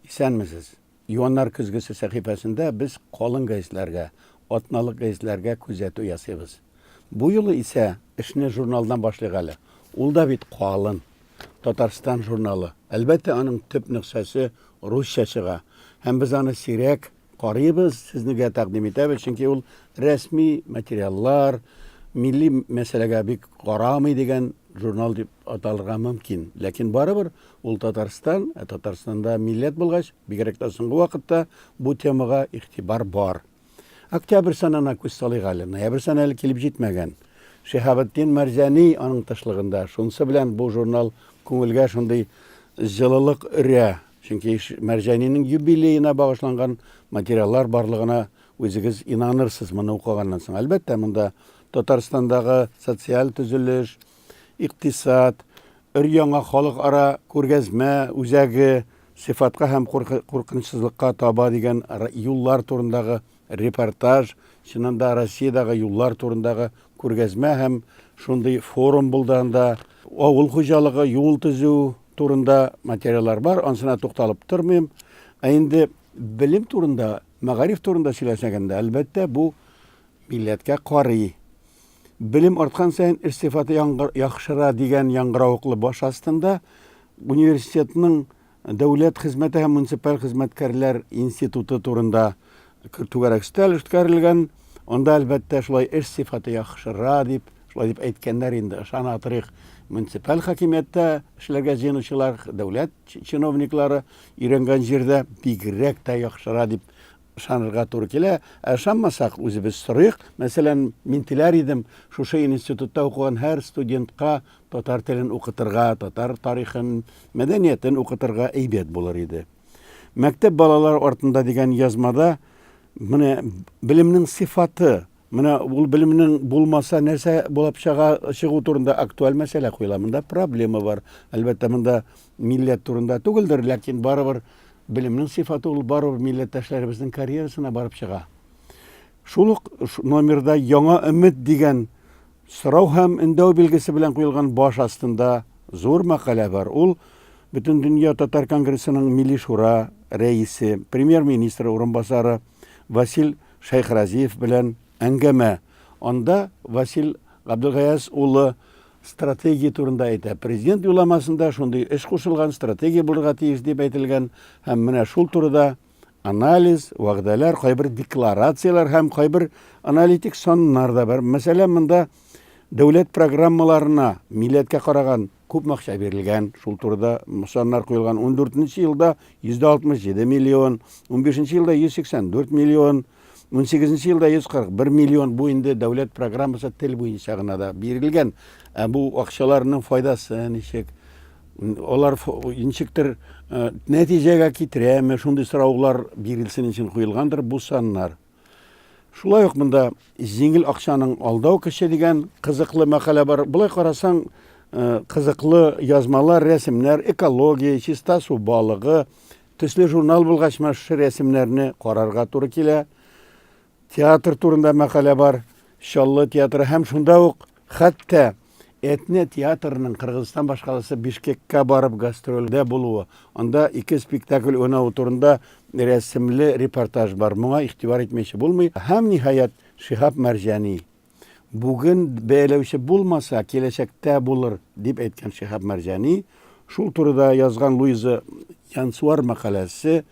Исәнмесез! Юаннар көзгесе сәхифәсендә без калын гәзитләргә, атналык гәзитләргә күзәтү ясыйбыз. Бу юлы исә эшне журналдан башлыйк әле. Ул да бит калын. Татарстан журналы. Әлбәттә, аның төп нөксәсе русча чыга. Һәм без аны сирәк карыйбыз, сезнегә тәкъдим итәбез, чөнки ул рәсми материаллар, милли мәсьәләгә бик карамый дигән журнал дип аталырга мөмкин, ләкин барыбер ул Татарстан, ә Татарстанда милләт булгач, бигрәк тә соңгы вакытта бу темага игътибар бар. Октябрь санына күз салыйк әле, ноябрь саны әле килеп җитмәгән. Шиһабетдин Мәрзәни аның тышлыгында, шунысы белән бу журнал күңелгә шундый җылылык өрә, чөнки Мәрзәнинең юбилеена багышланган материаллар барлыгына үзегез инанырсыз моны укыганнан соң. Әлбәттә, монда Татарстандагы социаль төзелеш, икътисад, өр-яңа халыкара күргәзмә үзәге, сыйфатка һәм куркынычсызлыкка таба дигән юллар турындагы репортаж, чыннан да Россиядәге юллар турындагы күргәзмә һәм шундый форум булды анда. Авыл хуҗалыгы, юл төзү турында материаллар бар, ансына тукталып тормыйм. Ә инде белем турында, мәгариф турында сөйләсәгәндә, әлбәттә, бу милләткә карый. Белем арткан саен эш сыйфаты яхшыра дигән яңгыравыклы баш астында университетның Дәүләт хезмәте һәм муниципаль хезмәткәрләр институты турында түгәрәк өстәл үткәрелгән. Анда, әлбәттә, шулай эш сыйфаты яхшыра дип, шулай дип әйткәннәр инде. Ышана торыйк, муниципаль хакимияттә эшләргә җыенучылар, дәүләт чиновниклары өйрәнгән җирдә бигрәк тә яхшыра дип Ышанырга туры килә, ә ышанмасак, үзебез сорыйк. Мәсәлән, мин теләр идем, шушы институтта укыган һәр студентка татар телен укытырга, татар тарихын, мәдәниятен укытырга әйбәт булыр иде. Мәктәп балалар артында дигән язмада менә белемнең сыйфаты, менә ул белемнең булмаса нәрсә булып чыга чыгу турында актуаль мәсьәлә куела. Монда проблема бар. Әлбәттә, монда Милләт турында түгелдер, ләкин барыбер белемнең сыйфаты ул барыбер милләттәшләребезнең карьерасына барып чыга. Шул ук номерда яңа өмет дигән сорау һәм өндәү билгесе белән куелган баш астында зур мәкалә бар. Ул Бөтендөнья татар конгрессының Милли шура рәисе, премьер-министр урынбасары Васил Шәйхразиев белән әңгәмә. Анда Васил Габделгаяз улы стратегия турында әйтә. Президент юлламасында шундый эш кушылган, стратегия булырга тиеш дип әйтелгән һәм менә шул турыда анализ, вәгъдәләр, кайбер декларацияләр һәм кайбер аналитик саннар да бар. Мәсәлән, монда дәүләт программаларына милләткә караган күп акча бирелгән, шул турыда саннар куелган. 14 елда 167 миллион, 15 елда 184 миллион, 18 елда 140, 1 миллион бу инде дәүләт программасы тел буенча гына да бирелгән. Ә бу акчаларның файдасы ничек? Алар ничектер э, нәтиҗәгә китерәме? Шундый сораулар бирелсен өчен куелгандыр бу саннар. Шулай ук монда җиңел акчаның алдау кеше дигән кызыклы мәкалә бар. Болай карасаң, э, кызыклы язмалар, рәсемнәр, экология, чиста су балыгы, Төсле журнал булгач ма шушы рәсемнәрне карарга туры килә. Театр турында мәкалә бар. Чаллы театры һәм шунда ук хәтта Этне театрының Кыргызстан башкаласы Бишкеккә барып гастрольдә булуы. Анда ике спектакль уйнавы турында рәсемле репортаж бар. Моңа игътибар итмәүче булмый. Һәм ниһаять Шиһап Мәрҗани Бүген бәяләүче булмаса, киләчәктә булыр, дип әйткән Шиһаб Мәрҗани. Шул турыда язган Луиза Янсуар мәкаләсе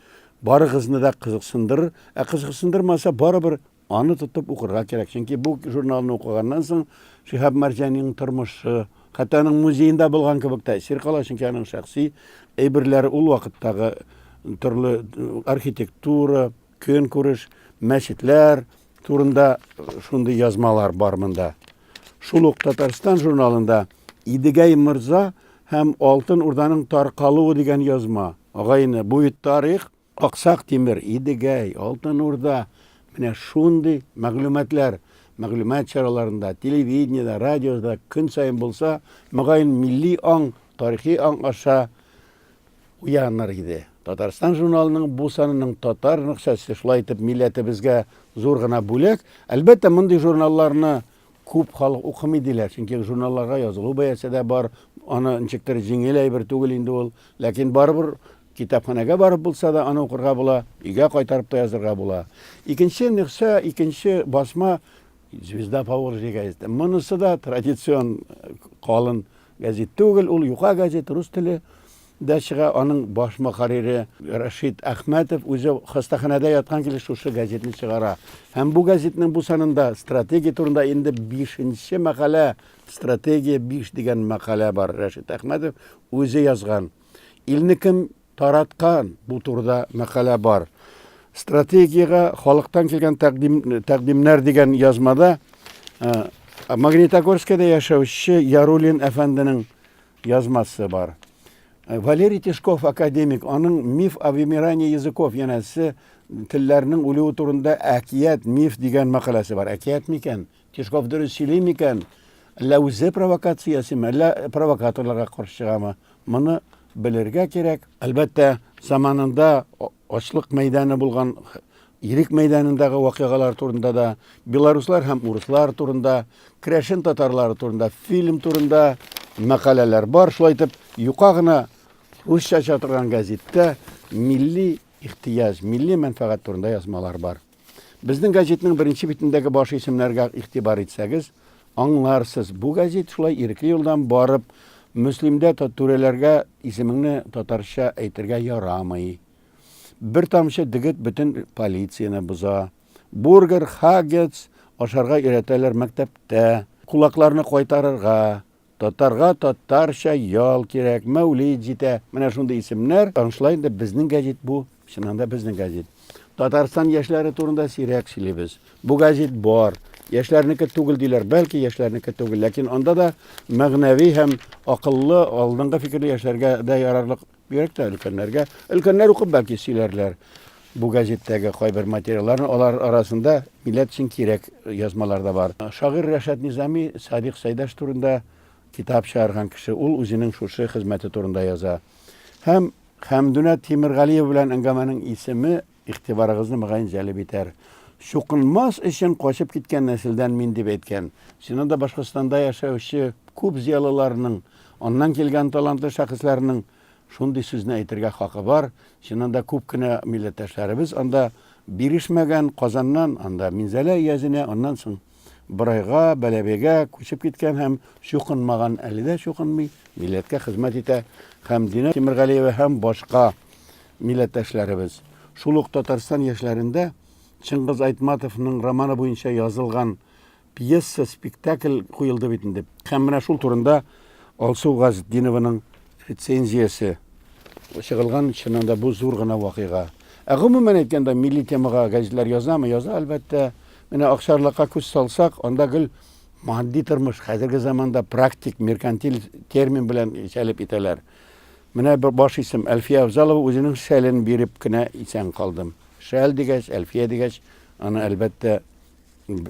барыгызны да кызыксындырыр. Ә кызыксындырмаса, барыбер аны тотып укырга кирәк. Чөнки бу журналны укыганнан соң Шиһаб Мәрҗаниның тормышы, хәтта аның музеенда булган кебек тәэсир кала, чөнки аның шәхси әйберләре ул вакыттагы төрле архитектура, Көнкүреш, мәчетләр турында шундый язмалар бар монда. Шул ук Татарстан журналында Идегәй морза һәм Алтын Урданың таркалуы дигән язма. Агайны, бу бит тарих. Аксак Тимер, Идегәй, Алтын Урда, менә шундый мәгълүматлар мәгълүмат чараларында, телевидениедә, радиода көн саен булса, мөгаен, милли аң, тарихи аң аша Уяныр иде. Татарстан журналының бу санының татар нөхсәсе шулай итеп милләтебезгә зур гына бүләк. Әлбәттә, мондый журналларны күп халык укымый диләр, чөнки журналларга язылу бәясе дә бар, аны ничектер җиңел әйбер түгел инде ул. Ләкин барыбер китапханәгә барып булса да аны укырга була, өйгә кайтарып та язырга була. Икенче нөхсә, икенче басма Звезда Поволжья газеты. Монысы да традицион калын Гәзит түгел, ул юка гәзит, рус теле дә чыга, аның баш мөхәррире Рәшит Әхмәтов үзе хастаханәдә яткан килеш шушы гәзитне чыгара. Һәм бу гәзитнең бу санында стратегия турында инде бишенче мәкалә, стратегия биш дигән мәкалә бар, Рәшит Әхмәтов үзе язган. Илне кем тараткан бу турыда мәкалә бар. Стратегиягә халыктан килгән тәкъдим, тәкъдимнәр дигән язмада ә, Магнитогорскида яшәүче Ярулин әфәнденең язмасы бар. Э, Валерий Тишков академик, аның миф о вымирании языков, янәсе телләрнең үлүе турында әкият, миф дигән мәкаләсе бар. Әкият микән? Тишков дөрес сөйли микән? Әллә үзе провокация ясыймы, әллә провокаторларга каршы чыгамы? Моны белергә кирәк. Әлбәттә, заманында ачлык мәйданы булган Ирек мәйданындагы вакыйгалар турында да, белоруслар һәм урыслар турында, крәшен татарлары турында, фильм турында мәкаләләр бар. Шулай итеп, юка гына русча чатырган газеттә милли ихтияҗ, милли мәнфәгать турында язмалар бар. Безнең газетның беренче битендәге баш исемнәргә игътибар итсәгез, аңларсыз, бу газет шулай ирекле юлдан барып, Мөслимдә түрәләргә исемеңне татарча әйтергә ярамый. Бер тамчы дегет бөтен полицияне боза. Бургер, хаггетс ашарга өйрәтәләр мәктәптә. Кулакларны кайтарырга, Татарга татарча ял кирәк, мәүлид җитә. Менә шундый исемнәр. Аңшылай инде безнең гәҗит бу, чыннан да безнең гәҗит. Татарстан яшьләре турында сирәк сөйлибез. Бу гәҗит бар. Яшьләрнеке түгел диләр, бәлки яшьләрнеке түгел, ләкин анда да мәгънәви һәм акыллы, алдынгы фикерле яшьләргә дә ярарлык Бигрәк тә өлкәннәргә. Өлкәннәр укып бәлки сөйләрләр бу газеттәге кайбер материалларны. Алар арасында милләт өчен кирәк язмалар да бар. Шагыйрь Рәшат Низами Садыйк Сәйдәш турында китап чыгарган кеше. Ул үзенең шушы хезмәте турында яза. Һәм Хәмдүнә Тимергалиева белән әңгәмәнең исеме Игътибарыгызны, мөгаен, җәлеп итәр. Чукынмас өчен качып киткән нәселдән мин, дип әйткән. Син анда Башкортстанда яшәүче күп зыялыларның, аннан килгән талантлы шәхесләрнең шундый сүзне әйтергә хакы бар. Син анда күп кенә милләттәшләребез анда бирешмәгән, Казаннан, анда Минзәлә иязенә, аннан соң. Борайга, Бәләбәйгә күчеп киткән һәм чукынмаган, әле дә чукынмый, милләткә хезмәт итә һәм Динә Тимергалиева һәм башка милләттәшләребез. Шул ук Татарстан яшьләрендә Чыңгыз Айтматовның романы буенча язылган пьеса, спектакль куелды бит инде. Һәм менә шул турында Алсу Газетдинованың рецензиясе чыгылган, чыннан да бу зур гына вакыйга. Ә гомумән әйткәндә, милли темага газетлар язамы? Яза, әлбәттә. Менә Акчарлакка күз салсак, анда гел матди тормыш, хәзерге заманда практик, меркантиль термин белән җәлеп итәләр. Менә бер баш исем Әлфия Авзалова үзенең шәлен биреп кенә исән калдым. Шәл дигәч, Әлфия дигәч, аны әлбәттә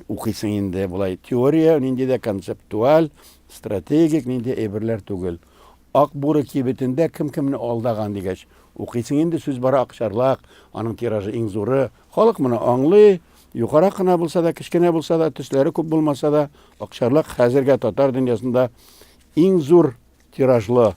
укыйсың инде болай теория нинди дә концептуаль стратегик нинди әйберләр түгел ак буры кибетендә кем кемне алдаган дигәч укыйсың инде сүз бара акчарлак аның тиражы иң зуры Халык моны аңлый, юкарак кына булса да, кечкенә булса да, төсләре күп булмаса да, Акчарлак хәзергә татар дөньясында иң зур тиражлы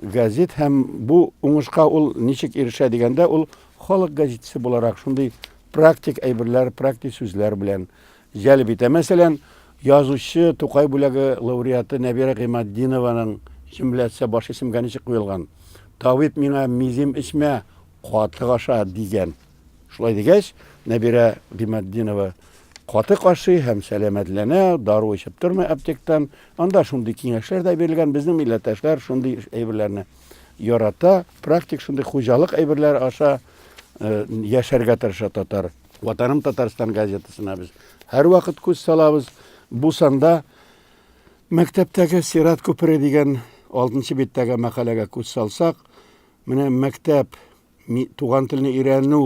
газет һәм бу уңышка ул ничек ирешә дигәндә, ул халык газетасы буларак шундый практик әйберләр, практик сүзләр белән җәлеп итә. Мәсәлән, язучы Тукай бүләге лауреаты Нәбирә Гыйматдинованың җөмләсе баш исемгә ничек куелган? Табиб миңа мизем эчмә, катык аша, дигән. Шулай дигәч, Нәбирә Гыйматдинова каты кашый һәм сәламәтләнә, дару эчеп тормый аптектан. Анда шундый киңәшләр дә бирелгән, безнең милләттәшләр шундый әйберләрне ярата, практик шундый хуҗалык әйберләре аша э, яшәргә тырыша татар. Ватаным Татарстан газетасына без һәрвакыт күз салабыз. Бу санда мәктәптәге сират күпере дигән 6 биттәге мәкаләгә күз салсак, менә мәктәп Туган телне өйрәнү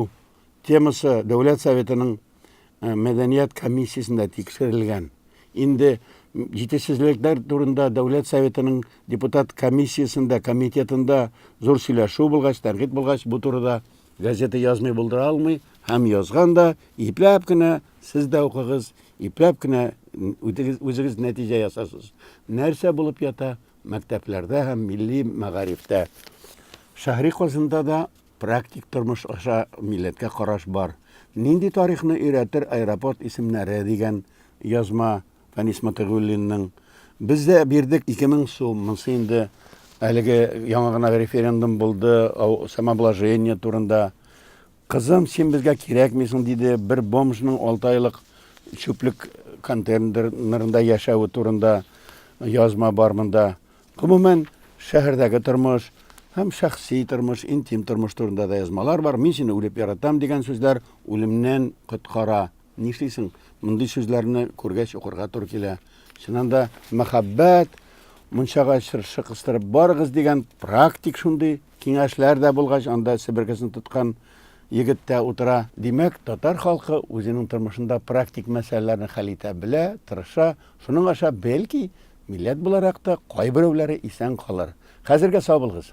темасы Дәүләт Советының э, мәдәният комиссиясендә тикшерелгән. Инде җитешсезлекләр турында Дәүләт Советының депутат комиссиясендә, комитетында зур сөйләшү булгач, тәнкыйть булгач, бу турыда газета язмый булдыра алмый һәм язган да ипләп кенә сез дә укыгыз, ипләп кенә үзегез нәтиҗә ясарсыз. Нәрсә булып ята? мәктәпләрдә һәм милли мәгарифтә, шәһри Казанда да практик тормыш аша милләткә караш бар. Нинди тарихны өйрәтер аэропорт исемнәре, дигән язма Фәнис Мотыйгуллинның. Без дә бирдек 2000 сум, монсы инде әлеге яңа гына референдум булды, самообложение турында. Кызым, син безгә кирәкмисең, диде бер бомжның алты айлык чүплек контейнерында яшәве турында язма бар монда. Гомумән, шәһәрдәге тормыш һәм шәхси тормыш, интим тормыш турында да язмалар бар. Мин сине үлеп яратам дигән сүзләр үлемнән коткара. Нишлисең, мондый сүзләрне күргәч укырга туры килә. Чыннан да, мәхәббәт, мунчага чыршы кыстырып барыгыз дигән практик шундый киңәшләр дә булгач, анда себеркесен тоткан егет тә утыра. Димәк, татар халкы үзенең тормышында практик мәсьәләләрне хәл итә белә, тырыша. Шуның аша, бәлки, милләт буларак та кайберәүләре исән калыр. Хәзергә сау булыгыз!